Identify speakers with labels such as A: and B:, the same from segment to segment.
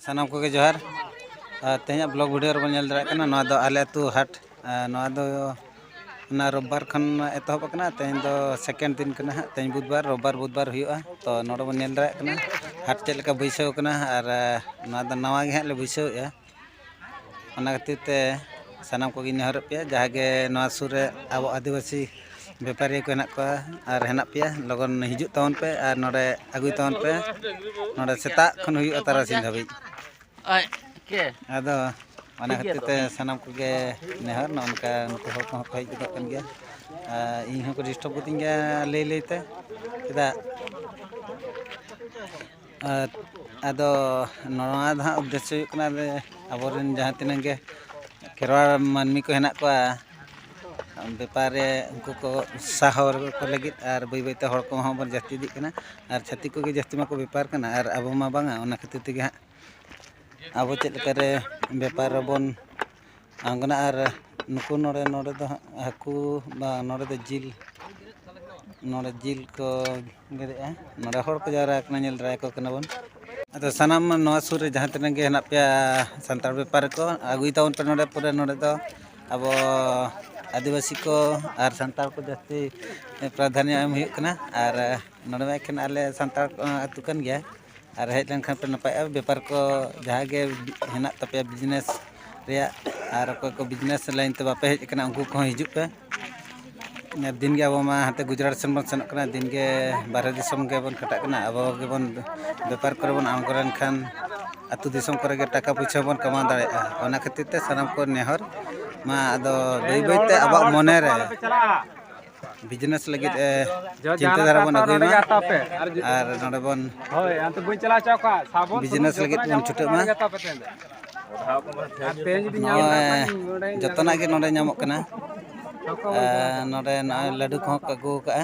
A: ᱥᱟᱱᱟᱢ ᱠᱚᱜᱮ ᱡᱚᱦᱟᱨ ᱛᱮᱦᱮᱧᱟᱜ ᱵᱞᱚᱜ ᱵᱷᱤᱰᱤᱭᱳ ᱨᱮᱵᱚᱱ ᱧᱮᱞ ᱫᱟᱲᱮᱭᱟᱜ ᱠᱟᱱᱟ ᱱᱚᱣᱟ ᱫᱚ ᱟᱞᱮ ᱟᱹᱛᱩ ᱦᱟᱴ ᱱᱚᱣᱟ ᱫᱚ ᱚᱱᱟ ᱨᱳᱵᱵᱟᱨ ᱠᱷᱚᱱ ᱮᱛᱚᱦᱚᱵ ᱟᱠᱟᱱᱟ ᱛᱮᱦᱮᱧ ᱫᱚ ᱥᱮᱠᱮᱱᱰ ᱫᱤᱱ ᱠᱟᱱᱟ ᱦᱟᱸᱜ ᱛᱮᱦᱮᱧ ᱵᱩᱫᱷᱵᱟᱨ ᱨᱳᱵᱵᱟᱨ ᱵᱩᱫᱷᱵᱟᱨ ᱦᱩᱭᱩᱜᱼᱟ ᱛᱚ ᱱᱚᱰᱮ ᱵᱚᱱ ᱧᱮᱞ ᱫᱟᱲᱮᱭᱟᱜ ᱠᱟᱱᱟ ᱦᱟᱴ ᱪᱮᱫ ᱞᱮᱠᱟ ᱵᱟᱹᱭᱥᱟᱹᱣ ᱠᱟᱱᱟ ᱟᱨ ᱱᱚᱣᱟ ᱫᱚ ᱱᱟᱣᱟ ᱜᱮ ᱦᱟᱸᱜ ᱞᱮ ᱵᱟᱹᱭᱥᱟᱹᱣᱮᱫᱼᱟ ᱚᱱᱟ ᱠᱷᱟᱹᱛᱤᱨ ᱛᱮ ᱥᱟᱱᱟᱢ ᱠᱚᱜᱮᱧ ᱱᱮᱦᱚᱨᱮᱫ ᱯᱮᱭᱟ ᱡᱟᱦᱟᱸᱭ ᱜᱮ ᱱᱚᱣᱟ ᱥᱩᱨ ᱨᱮ ᱟᱵᱚ ᱟᱹᱫᱤᱵᱟᱹᱥᱤ ᱵᱮᱯᱟᱨᱤᱭᱟᱹ ᱠᱚ ᱦᱮᱱᱟᱜ ᱠᱚᱣᱟ ᱟᱨ ᱦᱮᱱᱟᱜ ᱯᱮᱭᱟ ᱞᱚᱜᱚᱱ ᱦᱤᱡᱩᱜ ᱛᱟᱵᱚᱱ ᱯᱮ ᱟᱨ ᱱᱚᱰᱮ ᱟᱹᱜᱩᱭ ᱛᱟᱵᱚᱱ ᱯᱮ ᱱᱚᱰᱮ ᱥᱮᱛᱟᱜ ᱠᱷᱚᱱ ᱦᱩᱭᱩᱜᱼᱟ ᱛᱟᱨᱟᱥᱤᱧ ᱫᱷᱟᱹᱵᱤᱡ ᱟᱫᱚ ᱚᱱᱟ ᱠᱷᱟᱹᱛᱤᱨ ᱛᱮ ᱥᱟᱱᱟᱢ ᱠᱚᱜᱮ ᱱᱮᱦᱚᱨ ᱱᱚᱜᱼᱚ ᱱᱚᱝᱠᱟ ᱱᱩᱠᱩ ᱦᱚᱲ ᱠᱚᱦᱚᱸ ᱠᱚ ᱦᱮᱡ ᱜᱚᱫᱚᱜ ᱠᱟᱱ ᱜᱮᱭᱟ ᱟᱨ ᱤᱧ ᱦᱚᱸᱠᱚ ᱰᱤᱥᱴᱟᱵᱽ ᱜᱚᱫᱤᱧ ᱜᱮᱭᱟ ᱞᱟᱹᱭ ᱞᱟᱹᱭᱛᱮ ᱪᱮᱫᱟᱜ ᱟᱨ ᱟᱫᱚ ᱱᱚᱣᱟ ᱫᱚ ᱦᱟᱸᱜ ᱩᱫᱽᱫᱮᱥᱥᱚ ᱦᱩᱭᱩᱜ ᱠᱟᱱᱟ ᱡᱮ ᱟᱵᱚ ᱨᱮᱱ ᱡᱟᱦᱟᱸ ᱛᱤᱱᱟᱹᱜ ᱜᱮ ᱠᱷᱮᱨᱣᱟᱲ ᱢᱟᱹᱱᱢᱤ ᱠᱚ ᱦᱮᱱᱟᱜ ᱠᱚᱣᱟ ᱵᱮᱯᱟᱨ ᱨᱮ ᱩᱱᱠᱩ ᱠᱚ ᱥᱟᱦᱚ ᱠᱚ ᱞᱟᱹᱜᱤᱫ ᱟᱨ ᱵᱟᱹᱭ ᱵᱟᱹᱭ ᱛᱮ ᱦᱚᱲ ᱠᱚᱦᱚᱸ ᱵᱚᱱ ᱡᱟᱹᱥᱛᱤ ᱤᱫᱤᱜ ᱠᱟᱱᱟ ᱟᱨ ᱪᱷᱟᱹᱛᱤᱠ ᱠᱚᱜᱮ ᱡᱟᱹᱥᱛᱤ ᱢᱟᱠᱚ ᱵᱮᱯᱟᱨ ᱠᱟᱱᱟ ᱟᱨ ᱟᱵᱚ ᱢᱟ ᱵᱟᱝᱟ ᱚᱱᱟ ᱠᱷᱟᱹᱛᱤᱨ ᱛᱮᱜᱮ ᱦᱟᱸᱜ ᱟᱵᱚ ᱪᱮᱫ ᱞᱮᱠᱟᱨᱮ ᱵᱮᱯᱟᱨ ᱨᱮᱵᱚᱱ ᱟᱬᱜᱚᱱᱟ ᱟᱨ ᱱᱩᱠᱩ ᱱᱚᱰᱮ ᱱᱚᱰᱮ ᱫᱚ ᱦᱟᱸᱜ ᱦᱟᱹᱠᱩ ᱵᱟ ᱱᱚᱰᱮ ᱫᱚ ᱡᱤᱞ ᱱᱚᱰᱮ ᱡᱤᱞ ᱠᱚ ᱜᱮᱫᱮᱜᱼᱟ ᱱᱚᱰᱮ ᱦᱚᱲ ᱠᱚ ᱡᱟᱣᱨᱟ ᱟᱠᱟᱱᱟ ᱧᱮᱞ ᱫᱟᱨᱟᱭᱟᱠᱚ ᱠᱟᱱᱟ ᱵᱚᱱ ᱟᱫᱚ ᱥᱟᱱᱟᱢ ᱱᱚᱣᱟ ᱥᱩᱨ ᱨᱮ ᱡᱟᱦᱟᱸ ᱛᱤᱱᱟᱹᱜ ᱜᱮ ᱦᱮᱱᱟᱜ ᱯᱮᱭᱟ ᱥᱟᱱᱛᱟᱲ ᱵᱮᱯᱟᱨ ᱠᱚ ᱟᱹᱜᱩᱭ ᱛᱟᱵᱚᱱ ᱯᱮ ᱱᱚᱰᱮ ᱯᱩᱨᱟᱹ ᱱᱚᱰᱮ ᱫᱚ ᱟᱵᱚ ᱟᱹᱫᱤᱵᱟᱹᱥᱤ ᱠᱚ ᱟᱨ ᱥᱟᱱᱛᱟᱲ ᱠᱚ ᱡᱟᱹᱥᱛᱤ ᱯᱨᱟᱫᱷᱟᱱᱱᱚ ᱮᱢ ᱦᱩᱭᱩᱜ ᱠᱟᱱᱟ ᱟᱨ ᱱᱚᱰᱮ ᱢᱟ ᱮᱠᱷᱮᱱ ᱟᱞᱮ ᱥᱟᱱᱛᱟᱲ ᱟᱹᱛᱩ ᱠᱟᱱ ᱜᱮᱭᱟ ᱟᱨ ᱦᱮᱡ ᱞᱮᱱᱠᱷᱟᱱ ᱯᱮ ᱱᱟᱯᱟᱭᱚᱜᱼᱟ ᱵᱮᱯᱟᱨ ᱠᱚ ᱡᱟᱦᱟᱸ ᱜᱮ ᱦᱮᱱᱟᱜ ᱛᱟᱯᱮᱭᱟ ᱵᱤᱡᱽᱱᱮᱥ ᱨᱮᱭᱟᱜ ᱟᱨ ᱚᱠᱚᱭ ᱠᱚ ᱵᱤᱡᱽᱱᱮᱥ ᱞᱟᱹᱭᱤᱱ ᱛᱮ ᱵᱟᱯᱮ ᱦᱮᱡ ᱠᱟᱱᱟ ᱩᱱᱠᱩ ᱠᱚᱦᱚᱸ ᱦᱤᱡᱩᱜ ᱯᱮ ᱟᱨ ᱫᱤᱱ ᱜᱮ ᱟᱵᱚ ᱢᱟ ᱦᱟᱱᱛᱮ ᱜᱩᱡᱽᱨᱟᱴ ᱥᱮᱱ ᱵᱚᱱ ᱥᱮᱱᱚᱜ ᱠᱟᱱᱟ ᱫᱤᱱ ᱜᱮ ᱵᱟᱦᱨᱮ ᱫᱤᱥᱚᱢ ᱜᱮᱵᱚᱱ ᱠᱷᱟᱴᱟᱜ ᱠᱟᱱᱟ ᱟᱵᱚ ᱜᱮᱵᱚᱱ ᱵᱮᱯᱟᱨ ᱠᱚᱨᱮ ᱵᱚᱱ ᱟᱬᱜᱚ ᱞᱮᱱᱠᱷᱟᱱ ᱟᱛᱳ ᱫᱤᱥᱚᱢ ᱠᱚᱨᱮ ᱜᱮ ᱴᱟᱠᱟ ᱯᱩᱭᱥᱟᱹ ᱵᱚᱱ ᱠᱟᱢᱟᱣ ᱫᱟᱲᱮᱭᱟᱜᱼᱟ ᱚᱱᱟ ᱠᱷᱟᱹᱛᱤᱨ ᱛᱮ ᱥᱟᱱᱟᱢ ᱠᱚ ᱱᱮᱦᱚᱨ ᱢᱟ ᱟᱫᱚ ᱵᱟᱹᱭ ᱵᱟᱹᱭ ᱛᱮ ᱟᱵᱚᱣᱟᱜ ᱢᱚᱱᱮ ᱨᱮ ᱵᱤᱡᱽᱱᱮᱥ ᱞᱟᱹᱜᱤᱫ ᱪᱤᱱᱛᱟᱹ ᱫᱷᱟᱨᱟ ᱵᱚᱱ ᱟᱹᱜᱩᱭ ᱢᱟ ᱟᱨ ᱱᱚᱰᱮ ᱵᱚᱱ ᱵᱤᱡᱽᱱᱮᱥ ᱞᱟᱹᱜᱤᱫ ᱵᱚᱱ ᱪᱷᱩᱴᱟᱹᱜ ᱢᱟ ᱱᱚᱜᱼᱚᱭ ᱡᱚᱛᱚᱱᱟᱜ ᱜᱮ ᱱᱚᱰᱮ ᱧᱟᱢᱚᱜ ᱠᱟᱱᱟ ᱱᱚᱰᱮ ᱱᱚᱜᱼᱚᱭ ᱞᱟᱹᱰᱩ ᱠᱚᱦᱚᱸ ᱠᱚ ᱟᱹᱜᱩ ᱟᱠᱟᱫᱼᱟ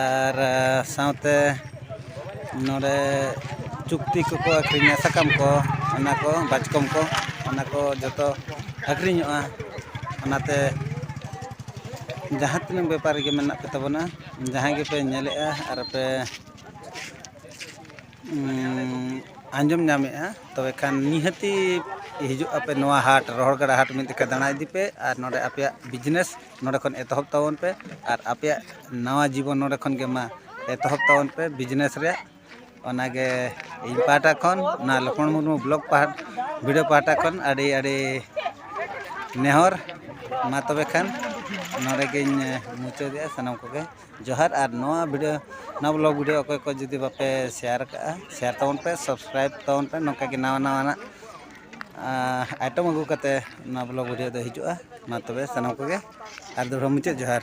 A: ᱟᱨ ᱥᱟᱶᱛᱮ ᱱᱚᱰᱮ ᱪᱩᱠᱛᱤ ᱠᱚᱠᱚ ᱟᱹᱠᱷᱨᱤᱧᱟ ᱥᱟᱠᱟᱢ ᱠᱚ ᱚᱱᱟ ᱠᱚ ᱵᱟᱪᱠᱚᱢ ᱠᱚ ᱚᱱᱟ ᱠᱚ ᱡᱚᱛᱚ ᱟᱹᱠᱷᱨᱤᱧᱚᱜᱼᱟ ᱚᱱᱟᱛᱮ ᱡᱟᱦᱟᱸ ᱛᱤᱱᱟᱹᱜ ᱵᱮᱯᱟᱨᱤ ᱜᱮ ᱢᱮᱱᱟᱜ ᱯᱮ ᱛᱟᱵᱚᱱᱟ ᱡᱟᱦᱟᱸᱭ ᱜᱮᱯᱮ ᱧᱮᱞᱮᱫᱼᱟ ᱟᱨ ᱯᱮ ᱟᱸᱡᱚᱢ ᱧᱟᱢᱮᱫᱼᱟ ᱛᱚᱵᱮ ᱠᱷᱟᱱ ᱱᱤᱦᱟᱹᱛᱤ ᱦᱤᱡᱩᱜ ᱟᱯᱮ ᱱᱚᱣᱟ ᱦᱟᱴ ᱨᱚᱦᱚᱲ ᱜᱟᱰᱟ ᱦᱟᱴ ᱢᱤᱫ ᱡᱚᱠᱷᱚᱡ ᱫᱟᱬᱟ ᱤᱫᱤ ᱯᱮ ᱟᱨ ᱱᱚᱰᱮ ᱟᱯᱮᱭᱟᱜ ᱵᱤᱡᱽᱱᱮᱥ ᱱᱚᱰᱮ ᱠᱷᱚᱱ ᱮᱛᱚᱦᱚᱵ ᱛᱟᱵᱚᱱ ᱯᱮ ᱟᱨ ᱟᱯᱮᱭᱟᱜ ᱱᱟᱣᱟ ᱡᱤᱵᱚᱱ ᱱᱚᱰᱮ ᱠᱷᱚᱱ ᱜᱮ ᱢᱟ ᱮᱛᱚᱦᱚᱵ ᱛᱟᱵᱚᱱ ᱯᱮ ᱵᱤᱡᱽᱱᱮᱥ ᱨᱮᱭᱟᱜ ᱚᱱᱟᱜᱮ ᱤᱧ ᱯᱟᱦᱴᱟ ᱠᱷᱚᱱ ᱚᱱᱟ ᱞᱚᱠᱷᱢᱚᱬ ᱢᱩᱨᱢᱩ ᱵᱞᱚᱜᱽ ᱯᱟᱦᱴᱟ ᱵᱷᱤᱰᱤᱭᱳ ᱯᱟᱦᱴᱟ ᱠᱷᱚᱱ ᱟᱹᱰᱤ ᱟᱹᱰᱤ ᱱᱮᱦᱚᱨ ᱢᱟ ᱛᱚᱵᱮ ᱠᱷᱟᱱ ᱱᱚᱰᱮ ᱜᱤᱧ ᱢᱩᱪᱟᱹᱫᱮᱜᱼᱟ ᱥᱟᱱᱟᱢ ᱠᱚᱜᱮ ᱡᱚᱦᱟᱨ ᱟᱨ ᱱᱚᱣᱟ ᱵᱷᱤᱰᱤᱭᱳ ᱱᱚᱣᱟ ᱵᱞᱚᱜᱽ ᱵᱷᱤᱰᱤᱭᱳ ᱚᱠᱚᱭ ᱠᱚ ᱡᱩᱫᱤ ᱵᱟᱯᱮ ᱥᱮᱭᱟᱨ ᱠᱟᱜᱼᱟ ᱥᱮᱭᱟᱨ ᱛᱟᱵᱚᱱ ᱯᱮ ᱥᱟᱵᱥᱠᱨᱟᱭᱤᱵᱽ ᱛᱟᱵᱚᱱ ᱯᱮ ᱱᱚᱝᱠᱟ ᱜᱮ ᱱᱟᱣᱟ ᱱᱟᱣᱟᱱᱟᱜ ᱟᱭᱴᱚᱢ ᱟᱹᱜᱩ ᱠᱟᱛᱮᱫ ᱱᱚᱣᱟ ᱵᱞᱚᱜᱽ ᱵᱷᱤᱰᱤᱭᱳ ᱫᱚ ᱦᱤᱡᱩᱜᱼᱟ ᱢᱟ ᱛᱚᱵᱮ ᱥᱟᱱᱟᱢ ᱠᱚᱜᱮ ᱟᱨ ᱫᱚᱦᱲᱟ ᱢᱩᱪᱟᱹᱫ ᱡᱚᱦᱟᱨ